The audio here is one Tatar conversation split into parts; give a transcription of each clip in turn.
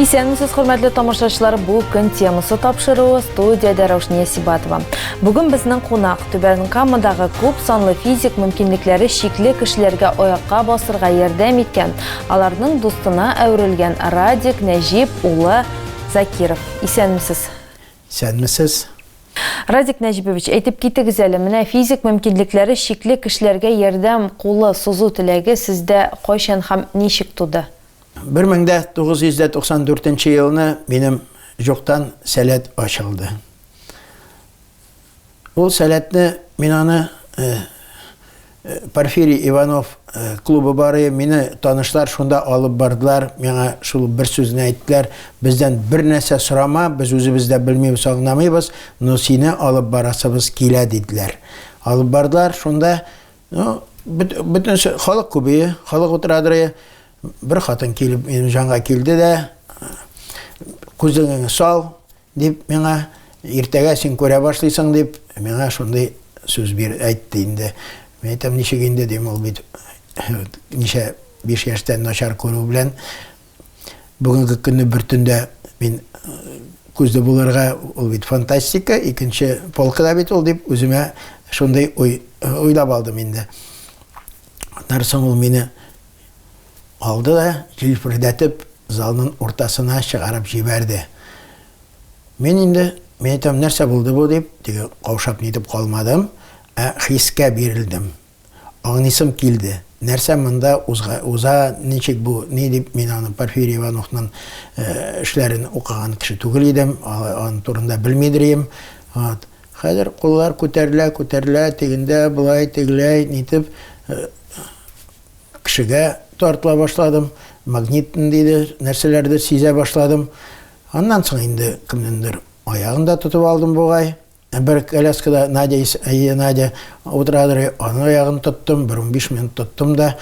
Исәнмесез, хөрмәтле тамашачылар, бу көн темасы тапшыруы студиядә Раушния Сибатова. Бүген безнең кунак Түбән Камадагы күп санлы физик мөмкинлекләре чикле кешеләргә аякка басырга ярдәм иткән, аларның дустына әверелгән Радик Нәҗип улы Закиров. Исәнмесез. Исәнмесез. Радик Нәҗибович, әйтеп китегез әле, менә физик мөмкинлекләре чикле кешеләргә ярдәм кулы сузу теләге сездә кайчан һәм ничек туды? 1994 елны минем җуктан сәләт ачылды. Ул сәләтне мин аны э, э, Порфирий Иванов э, клубы бары мине танышлар шунда алып бардылар. Миңа шул бер сүзне әйттеләр. Бездән бер нәрсә сорама, без үзебез дә белмибез, аңламыйбыз, но сине алып барасыбыз килә диделәр. Алып бардылар шунда, ну, бөтен халык күбее, халык утырадыры. Бер хатын килеп минем җанга килде дә, күзеңне сал, дип миңа, иртәгә син күрә башлыйсың, дип миңа шундый сүз бир әйтте инде. Мин әйтәм, ничек инде, дим, ул бит ничә биш яшьтән начар күрү белән бүгенге көнне бер төндә мин күзле булырга ул бит фантастика, икенче полкада бит ул дип үземә шундый уй уйлап алдым инде. Аннан соң ул мине Алды да, җилфердәтеп, залның уртасына чыгарып җибәрде. Мин инде, мин әйтәм, нәрсә булды бу, дип, теге каушап нитеп калмадым, ә хискә бирелдем. Аңлыйсым килде, нәрсә монда узга, уза, ничек бу, ни дип, мин аны Порфирий Ивановның эшләрен укыган кеше түгел идем, аны турында белмидер идем. Вот. Хәзер куллар күтәрелә, күтәрелә, тегендә, болай, тегеләй, нитеп, Кешегә тартыла башладым, магнит ниндидер нәрсәләрдер сизә башладым. Аннан соң инде кемнеңдер аягын да тотып алдым бугай. Бер коляскада Надя, әйе, Надя утырадыр, аның аягын тоттым, бер унбиш минут тоттым да.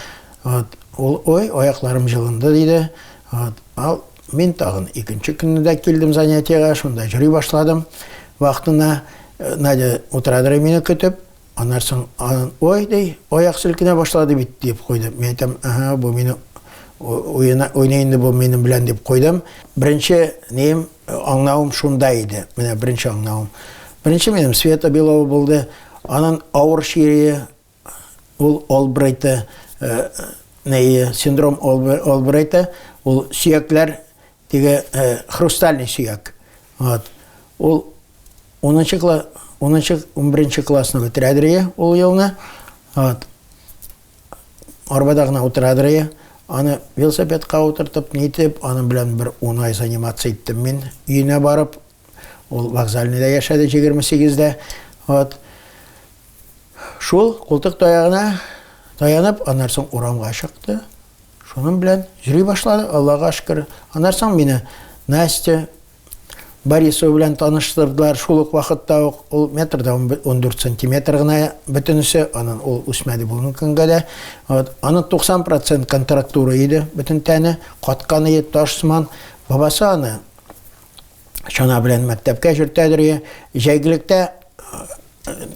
Вот, ул, ой, аякларым җылынды, диде. Вот, ал, мин тагын икенче көнне дә килдем занятиега, шунда йөри башладым. Вакытына э, Надя утырадыр мине көтеп. Аннан соң анын, Ой, ди, аяк селкенә башлады бит, диеп куйды. Мин әйтәм, Әһә, бу мине уена, уйный инде бу минем белән, дип куйдым. Беренче нием, аңнавым шунда иде. Менә беренче аңнавым. Беренче минем Света Белова булды. Анын авыр чире ул Олбрайты, синдром Олбрайта, ул сөякләр Теге э, хрустальный сөяк. Вот. Ул 10 класс 10 11 классны бетерәдер ул елны. Вот. Арбада гына утырадыр Аны велосипедка утыртып, нитеп, аның белән бер 10 ай занимация иттем мин. Өенә барып, Ул вокзальныйда яшәде 28-дә. Вот. Шул култык таягына таянып, аннан соң урамга чыкты. Шуның белән йөри башлады, Аллага шөкер. Аннан соң мине Настя Борисова белән таныштырдылар. Шул ук вакытта ук ул метрда 14 сантиметр гына бөтенесе, анын ул үсмәде бүгенге көнгә дә. Вот. Анын 90% контрактура иде, бөтен тәне каткан иде, таш сыман. Бабасы аны чана белән мәктәпкә җөртәдер я, җәйгелектә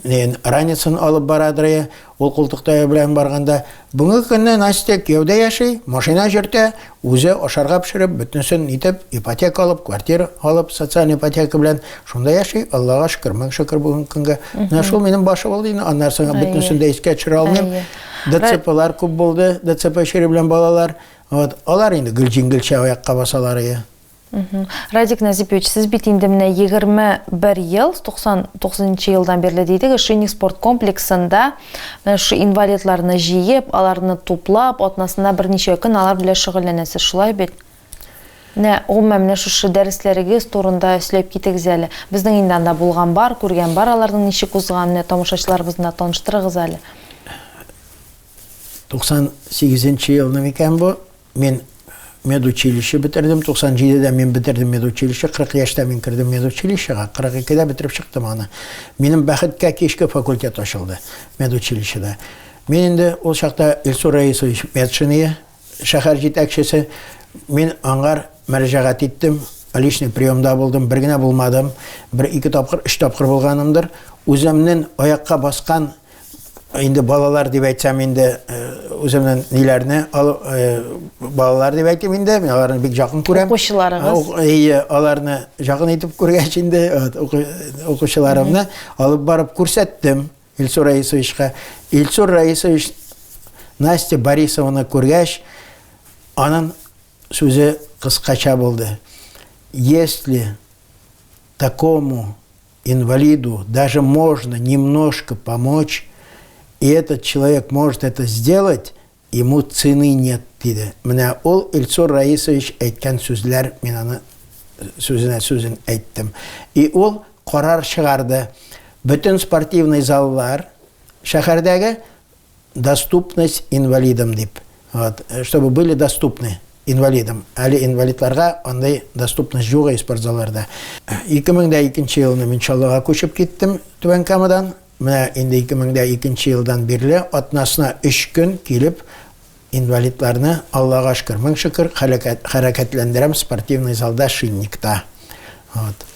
нен раницын алып барадыр я, ул култыктая белән барганда. Бүгенге көнне Настя кияүдә яши, машина җөртә, үзе ашарга пешереп, бөтенесен итеп, ипотека алып, квартира алып, социаль ипотека белән шунда яши, Аллага шөкер, мең шөкер бүгенге көнгә. Менә шул минем башы булды инде, аннан соң бөтенесен дә искә төшерә алмыйм. ДЦПлар күп булды, ДЦП чире белән балалар. Вот, алар инде гел җиңелчә аякка басалар. Радик Назипович, сез бит инде менә 21 ел, 99 нчы елдан бирле дидегез, Шинник спорт комплексында менә шушы инвалидларны җыеп, аларны туплап, атнасына берничә көн алар белән шөгыльләнәсез, шулай бит? Менә гомумән менә шушы дәресләрегез турында сөйләп китегез әле. Безнең инде анда булган бар, күргән бар аларның ничек узганын, менә тамашачыларыбыз белән таныштырыгыз әле. 98 нчы елны микән бу? Мин медучилище бетердем, 97-дә мин бетердем медучилище, 40 яшьтә мин кердем медучилищега, 42-дә бетереп чыктым аны. Минем бәхеткә кичке факультет ачылды медучилищеда. Мин инде ул чакта Илсур Раисович Медшиния, шәһәр җитәкчесе, мин аңар мәрәҗәгать иттем, личный приемда булдым, бер генә булмадым, бер ике тапкыр, өч тапкыр булганымдыр. Үземнен аякка баскан Инде балалар дип әйтсәм инде үземнең ниләрне балалар дип әйтим инде мин аларны бик жақын күрәм укучыларыгыз әйе аларны жақын итеп күргәч инде укучыларымны алып барып күрсәттем илсур раисовичка илсур раисович настя борисованы күргәч аның сүзе кыскача булды если такому инвалиду даже можно немножко помочь, и этот человек может это сделать, ему цены нет, диде. Менә ул Ильсур Раисович әйткән сүзләр, мин аны сүзенә сүзен әйттем. И ул карар чыгарды. Бөтен спортивный заллар шәһәрдәге Доступность инвалидам дип. Вот, чтобы были доступны инвалидам. Әле инвалидларга андый доступность юк и спортзалларда. 2002 елны мин Чаллыга күчеп киттем Түбән Камадан. Менә инде 2002 елдан бирле атнасына 3 көн килеп инвалидларны Аллага шөкер, мең шөкер, хәрәкәтләндерәм спортивный залда Шинникта. Вот.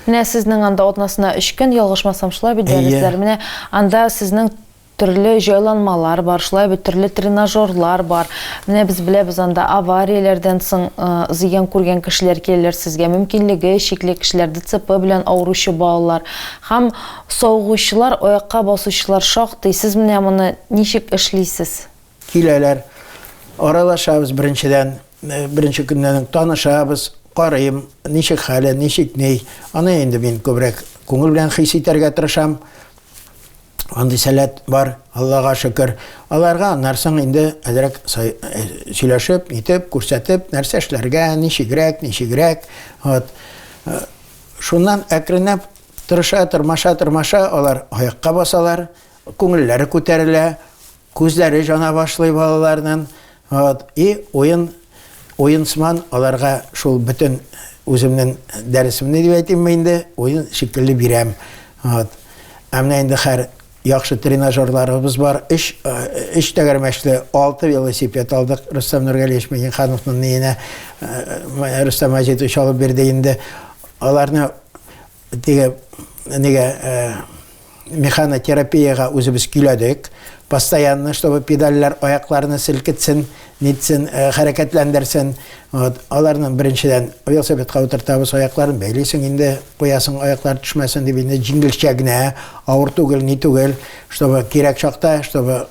Менә сезнең анда атнасына 3 көн ялгышмасам шулай бит дәресләр. Менә анда сезнең төрле җайланмалар бар, шулай бит төрле тренажерлар бар. Менә без беләбез анда аварияләрдән соң э, зыян күргән кешеләр киләләр сезгә, мөмкинлеге чикле кешеләр, ДЦП белән авыручы балалар һәм савыгучылар, аякка басучылар шактый. Сез менә моны ничек эшлисез? Киләләр. Аралашабыз беренчедән. Э, беренче көннән танышабыз, карыйм, ничек хәле, ничек ни. Аны инде мин күбрәк күңел белән хис итәргә тырышам. Андый сәләт бар, Аллага шөкер. Аларга нарсың инде әзрәк э, сөйләшеп, итеп, күрсәтеп, нәрсә эшләргә, ничегрәк, ничегрәк. Вот. Э, шуннан әкренләп тырыша, тырмаша, тырмаша алар аякка басалар, күңелләре күтәрелә. Күзләре җана башлый балаларның, вот, и уен, уенсман аларга шул бөтен үземнең дәресемне дип әйтимме инде, уен шикелле бирәм. Вот. Ә менә инде хәр яхшы тренажерларыбыз бар. Өч, өч тәгәрмәчле, алты велосипед алдык. Рөстәм Нургалиевич Миңнехановның ниенә Рөстәм Азитович алып бирде инде. Аларны Теге нигә механотерапиягә үзебез көйләдек. Постоянно, чтобы педальләр аякларны селкетсен, нитсен, хәрәкәтләндерсен. Вот, аларны беренчедән велосипедка утыртабыз, аякларын бәйлисең инде, куясың, аяклар төшмәсен дип инде җиңелчә генә, авыр түгел, ни түгел, чтобы кирәк чакта, чтобы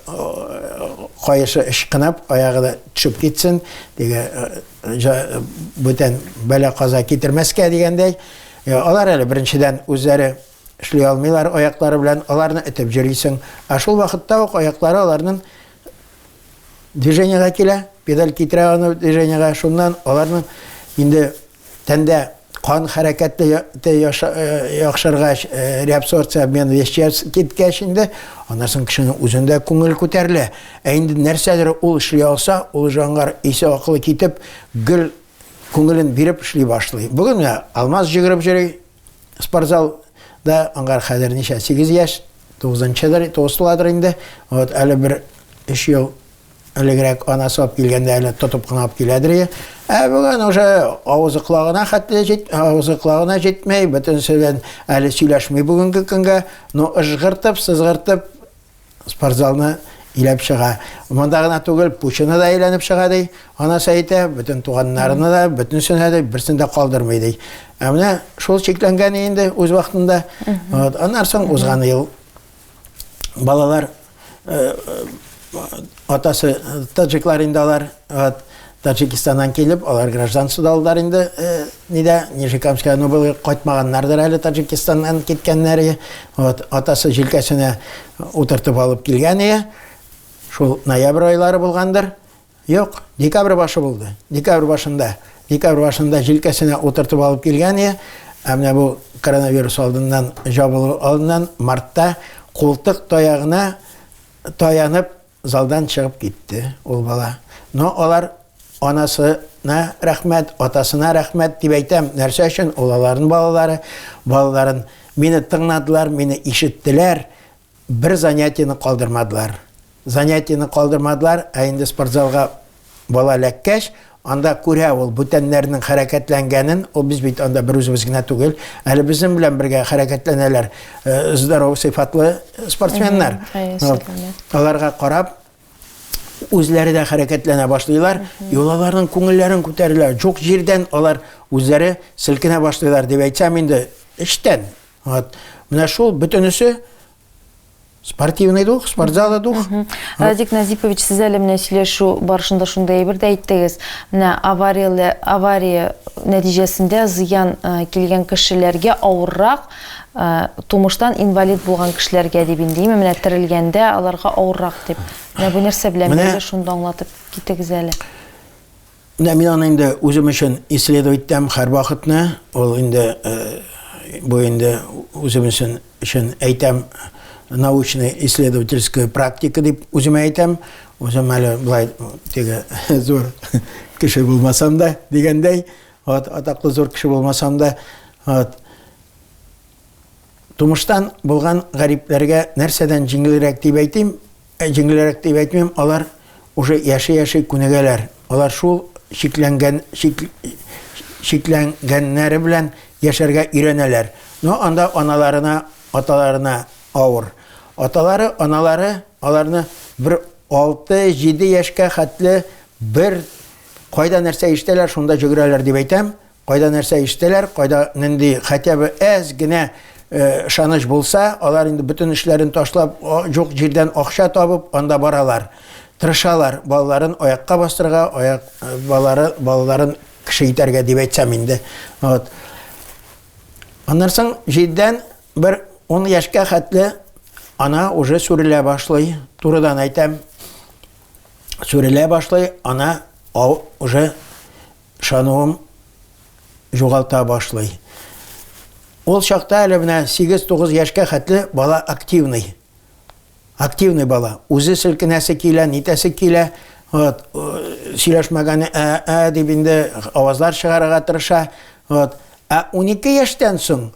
каешы ычкынып, аягы да төшеп китсен, теге бүтән бәла-каза китермәскә дигәндәй. Йә, алар әле, беренчедән, үзләре эшли алмыйлар, аяклары белән аларны этеп җөрисең. Ә шул вакытта ук аяклары аларның движениега килә, педаль китерә аны движениега, шуннан аларның инде тәндә кан хәрәкәте э, яхшыргач, э, реабсорбция обмен веществ киткәч инде, аннан соң кешенең үзендә күңел күтәрелә. Ә инде нәрсәдер ул эшли алса, ул җангар исе акылы китеп, гел Күңелен биреп эшли башлый. Бүген я алмаз җигреп җөри, спортзал да аңгар хәзер ничә 8 яшь, 9-нчыдыр, 9 туладыр инде. Вот әле бер 3 ел элегрәк анасы алып килгәндә әле тотып кына алып киләдер иде. Ә бүген уже авызы колагына хәтле җит, авызы колагына җитмәй, бөтенесе белән әле сөйләшми бүгенге көнгә, но ыжгыртып, сызгыртып Спортзалны иләп чыга. Монда гына түгел, пучына да әйләнеп чыга ди. Анасы әйтә, бөтен туганнарына да, бөтенесенә дә берсен дә калдырмый ди. Ә менә шул чикләнгән инде үз вакытында. Вот, аннан соң узган ел балалар э, э, Атасы таҗиклар инде алар, вот, Таҗикистаннан килеп, алар гражданство да алдылар инде, э, нидә, Нижекамская, ну, был кайтмаганнардыр әле Таҗикистаннан киткәннәре. Вот, атасы җилкәсенә утыртып алып килгән ие. Шул ноябрь айлары булгандыр. Юк, декабрь башы булды. Декабрь башында, декабрь башында җилкәсенә утыртып алып килгән ие. Ә менә бу коронавирус алдыннан, жабылу алдыннан мартта култык таягына таянып, залдан чыгып китте ул бала. Но алар анасына рәхмәт, атасына рәхмәт дип әйтәм. Нәрсә өчен? Ул аларның балалары, балаларын мине тыңнадылар, мине ишеттеләр, бер занятиены калдырмадылар. Занятиены калдырмадылар, ә инде спортзалга Бала эләккәч, анда күрә ул бүтәннәрнең хәрәкәтләнгәнен, ул без бит анда бер үзебез генә түгел, әле безнең белән бергә хәрәкәтләнәләр э, здоров сыйфатлы спортсменнар. Аларга карап, үзләре дә хәрәкәтләнә башлыйлар, и аларның күңелләрен күтәрелә. Җук җирдән алар үзләре селкенә башлыйлар дип әйтсәм инде, эчтән. Вот. Менә шул бөтенесе Спортивный дух, спортзалы дух. Радик Назипович, сез әле менә сөйләшү барышында шундый әйбер дә әйттегез. Менә авария, авария нәтиҗәсендә зыян э, килгән кешеләргә авыррак, э, тумыштан инвалид булган кешеләргә дип инде, именно менә терелгәндә аларга авыррак дип. Менә бу нәрсә белән бергә шунда аңлатып китегез әле. Менә мин аны инде үзем өчен исследовать итәм һәрвакытны. Ул инде бу инде үзем өчен әйтәм научный исследовательская практика дип үземә әйтәм. Үзем әле былай теге зур кеше булмасам да дигәндәй, вот атаклы зур кеше булмасам да, вот Тумыштан булган гарипләргә нәрсәдән җиңелрәк дип әйтим, ә җиңелрәк дип әйтмим, алар уже яши-яши күнегәләр. Алар шул чикләнгән чик, чикләнгәннәре белән яшәргә өйрәнәләр. Но анда аналарына, аталарына авыр. Аталары, аналары аларны бер 6-7 яшькә хәтле бер кайда нәрсә ишетәләр, шунда җөгерәләр дип әйтәм, Кайда нәрсә ишетәләр, кайда нинди хотя бы әз генә ышаныч э, булса, алар инде бөтен эшләрен ташлап, җук җирдән акча табып, анда баралар. Тырышалар балаларын аякка бастырга, аяк э, балалары балаларын кеше итәргә дип әйтсәм инде. Вот. Аннан соң җирдән бер 10 яшькә хәтле ана уже сүрелә башлый. Турыдан әйтәм, сүрелә башлый, ана уже Ышануын югалта башлый. Ул чакта әле менә 8-9 яшькә хәтле бала активный. Активный бала. Үзе селкенәсе килә, нитәсе килә. Вот, сөйләшмәгәне ә-ә дип инде авазлар чыгарырга тырыша. Вот. Ә 12 яшьтән соң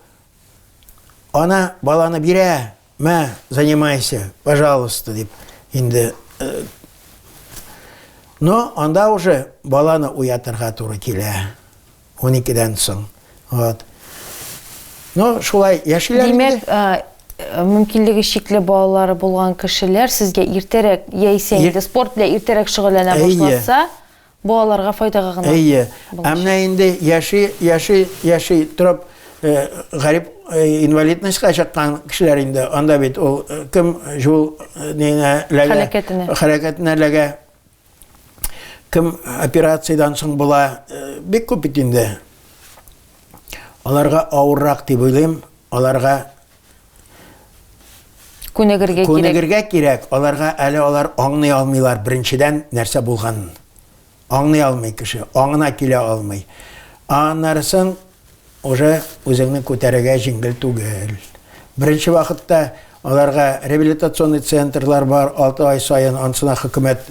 ана баланы бирә, Мә, занимайся, пожалуйста, дип инде э, Но анда уже баланы уятырга туры килә. 12-дән соң. Вот. Но шулай яшиләр Димәк, э, э, мөмкинлеге чикле балалары булган кешеләр сезгә иртәрәк яисә инде спорт белән иртәрәк шөгыльләнә башласа, Бу аларга файдага гына. Әйе. Ә менә инде яши, яши, яши торып, гарип инвалидностька чыккан кешеләр инде, анда бит ул кем җул нигә ләгә, хәрәкәтенә ләгә, кем операциядән соң була, бик күп бит инде. Аларга авыррак дип уйлыйм, аларга Күнегергә кирәк. Күнегергә кирәк. Аларга әле алар аңлый алмыйлар беренчедән нәрсә булганын. Аңлый алмый кеше, аңына килә алмый. Аннарысын уже үзеңне күтәрергә җиңел түгел. Беренче вакытта аларга реабилитационный центрлар бар, 6 ай саен ансына хөкүмәт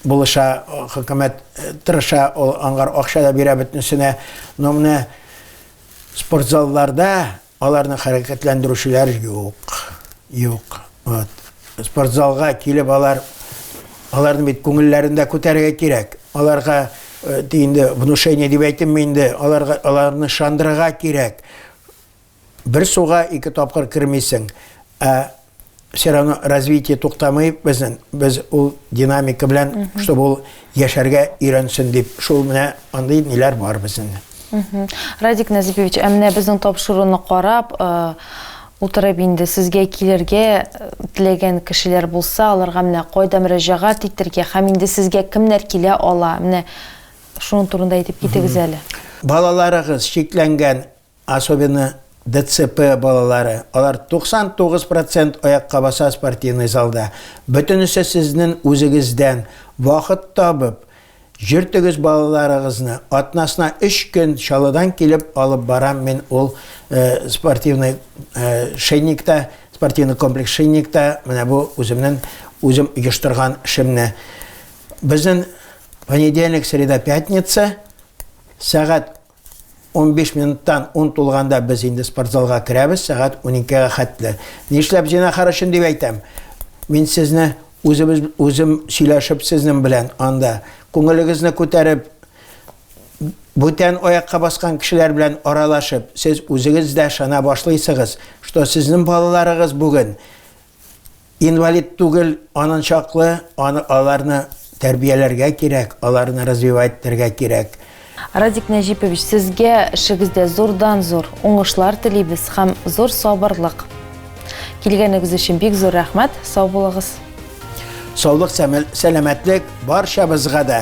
булыша, хөкүмәт э, тырыша, ул аңгар акча да бирә бөтенесенә. Но менә спортзалларда Аларны хәрәкәтләндерүчеләр юк. Юк. Вот. Спортзалга килеп алар аларны бит күңелләрендә күтәрергә кирәк. Аларга э, инде внушение дип әйтемме инде, аларга аларны шандырырга кирәк. Бер суга ике тапкыр кермисең. Ә все равно развитие туктамый безнең. Без ул динамика белән, чтобы ул яшәргә өйрәнсен дип, шул менә андый ниләр бар безнең. Радик Назипович, ә менә безнең тапшыруны карап, э, утырып инде сезгә килергә э, теләгән кешеләр булса, аларга менә кайда мөрәҗәгать итәргә һәм инде сезгә кемнәр килә ала? Менә шуның турында әйтеп китегез әле. Балаларыгыз чикләнгән Особенно ДЦП балалары, алар 99 процент аякка баса спортивный залда. Бөтенесе сезнен үзегездән вахыт табып, җөртегез балаларыгызны, атнасына өч көн Чаллыдан килеп алып барам мин ул спортивный Шейникта, спортивный комплекс Шейникта, менә бу үземнен үзем оештырган шемне. Безнен понедельник, среда, пятница, сәгать 15 минуттан ун тулганда без инде спортзалга керәбез, сәгать 12-гә хәтле. Нишләп зинахар өчен дип әйтәм. Мин сезне үзебез үзем сөйләшеп сезнең белән анда күңелегезне күтәреп бүтән аякка баскан кешеләр белән аралашып, сез үзегез дә шана башлыйсыгыз, что сезнең балаларыгыз бүген Инвалид түгел, анын чаклы, аны аларны тәрбияләргә кирәк, аларны развивать итәргә кирәк. Радик Нәҗипович, сезгә эшегездә зурдан-зур уңышлар телибез һәм зур сабырлык. Килгәнегез өчен бик зур рәхмәт, сау булыгыз. Саулык, сәламәтлек барчабызга да!